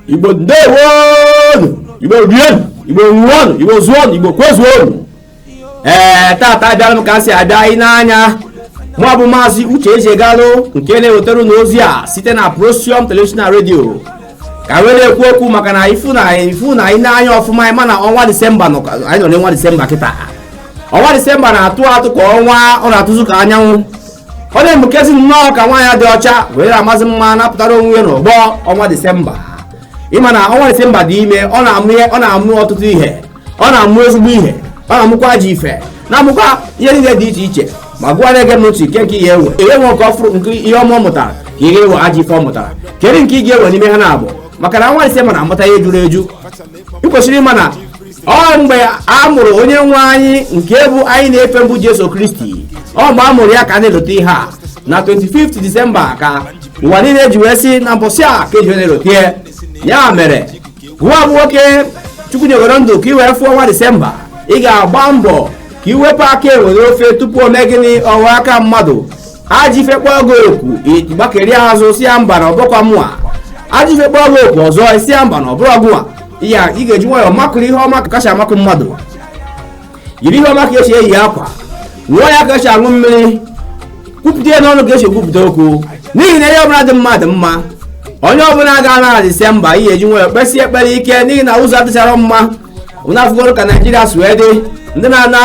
igbo ndewonu igbo rienu igbo ṅụọnụ igbo zụọnụ igbo kwezuonụ ee tata abịara m ka m si abịa anyị n'anya mụ bụ maazị uche eji egalụ nke na-ewetara unu ozi a site na prosium televishọn na redio ka wee na-ekwu okwu maka na ifu na anyị n'anya ọfụma ị ma na ọnwa disemba anyị nọ n'ọnwa disemba kịta ọnwa disemba na-atụ atụ ka ọnwa ọ na-atụzu ka anyanwụ ọ na-emukezi nnọọ ka nwaanyị dị ọcha were amasị mma napụtara onwe ya n'ọgbọ ọnwa disemba ịma na ọnwa disemba dị ime ọ na-amụ ihe ọ na-amụ ọtụtụ ihe ọ na-amụ ezigbo ihe ọ na-amụkwa ajọ ife na-amụkwa ihe niile dị iche iche ma gụwa na-ege m ntị kee nke ị ya-ewe ị ya-ewe nke ọfụrụ nke ihe ọma ọ mụtara ka ị ga-ewe ajọ ife ọ mụtara kedu nke ị ga-ewe n'ime ha n'abụọ maka na ọnwa disemba na-amụta ihe juru eju ị kwesịrị ịma na ọ mgbe a mụrụ onye nwe anyị nke bụ anyị na-efe mbụ jesu kristi ọ mgbe a mụrụ ya ka a na-elote ihe a na 25 disemba ka ụwa niile ji wee sị na mbọsị a ka eji na-elote ya. ya mere gụwa bụ nwoke chukwu nyegoro ndụ ka i wee fụọ ọnwa disemba ị ga-agba mbọ ka i wepụ aka enwe n'ofe tupu o mee gịnị ọ wọọ aka mmadụ ajọ ife kpọọ gị oku gbakeri azụ sị ya mba na ọ bụkwa mụa ajọ ife kpọọ gị oku ọzọ ị sị ya mba na ọ bụrọ gụwa ya ị ga-eji nwayọọ makụrụ ihe ọma ka esi amakụ mmadụ yiri ihe ọma ka esi eyi akwa ṅụọ ya ka esi aṅụ mmiri kwupụta ya n'ọnụ ka esi ekwupụta okwu n'ihi na ihe ọbụla dị mma dị mma onye ọbụla ga-ana disemba ị ya-eji nwayọọ kpesie ekpere ike n'ihi na ụzọ adịcharọ mma unu afụgoro ka naijiria si wee dị ndị na-ana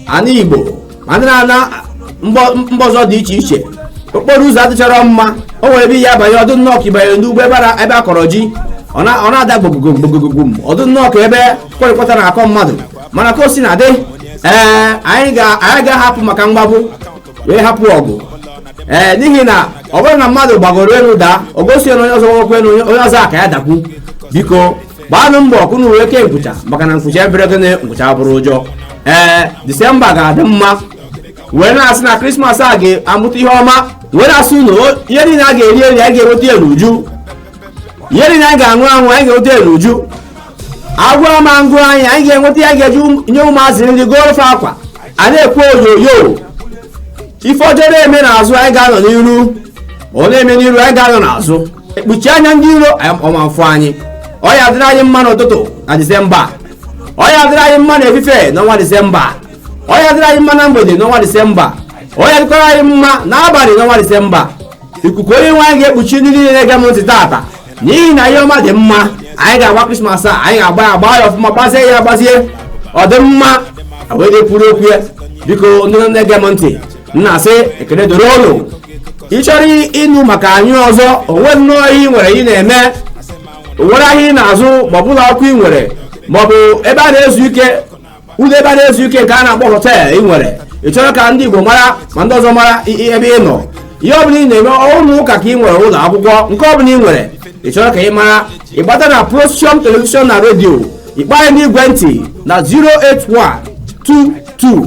ana igbo ma ndị na-ana mba ọzọ dị iche iche okporo ụzọ adịcharọ mma o nwere ebe ị ya-abanye ọ dụ nnọọ ka ịbanyere n'ugbo ebe ebe a kọrọ ji ọ na-ada gbogogom gbogogom ọ dụ nnọọ ka ebe kwarịkwata na-akọ mmadụ mana ka o si na-adị ee anyị ga-ahapụ maka mgbagbu wee hapụ ọgụ ee n'ihi na ọ bụrụ na mmadụ gbagoro elu daa o gosi na onye ọzọ nwekwe na onye ọzọ a ka ya dakwu biko gbaanụ mbọ ka unu wee kee nkwụcha maka na nkwụcha abụrọ gịnị nkwụcha abụrọ ụjọ ee disemba ga-adị mma wee na-asị na krismas a ga-amụta ihe ọma wee na-asị unu o- ihe niile a ga-eri eri anyị ga-enweta ya n'uju ihe niile anyị ga-aṅụ aṅụ anyị ga-enweta ya n'uju agwọ ma ngụ anyị anyị ga-enweta ya ga-eji ụm- nye ụmụazị nri goro fa akwa a na-ekwe oyoyo ife ọjọọ na-eme n'azụ anyị ga-anọ n'iru ọ na-eme n'iru anyị ga-anọ n'azụ ekpuchi anya ndị iro ọ ma-afụ anyị ọ ya adịrị anyị mma n'ụtụtụ na disemba ọ ya adịrị anyị mma n'efife n'ọnwa disemba ọ ya adịrị anyị mma na mgbede n'ọnwa disemba ọ ya adịkwara anyị mma n'abalị n'ọnwa disemba ikuku onye nwe anyị ga-ekpuchi ndị niile na-ege m ntị taata n'ihi na ihe ọma dị mma anyị ga-agba krismas a anyị ga-agba ya gbaa ya ọfụma gbazie ya agbazi ọ dị mma wee dịkwuru okwu ya biko ndị na-ege m ntị na-asị ekele dịrị unu ị chọrọ ịnụ maka anyị ọzọ onwe nnọọ ihe ị nwere ị na-eme onwere ahịa ị na-azụ maọbụ ụlọ akwụkwọ ị nwere maọbụ ebe a na-ezu ike ụlọ ebe a na-ezu ike nke a na-akpọ họtel ị nwere ị chọrọ ka ndị Igbo mara ma ndị ọzọ mara ebe ị nọ ihe ọbụla ị na-eme ụlọ ụka ka ị nwere ụlọ akwụkwọ nke ọbụla ị nwere ị chọrọ ka ị mara ịgbata na Procium telivishọn na redio ịkpọ anyị n'igwe ntị na 08122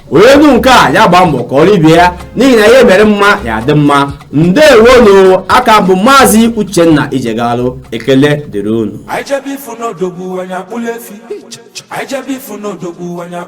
onye nụ nke a ya gbaa mbọ kọọrọ ibe ya n'ihi na ihe mere mma ya adị mma ndewonu a ka m bụ maazị uchenna ijegalụ ekele dịrị unu Anyị jebe ifu n'odogwu anyị akpụla efi. Anyị jebe ifu n'odogwu anyị akpụla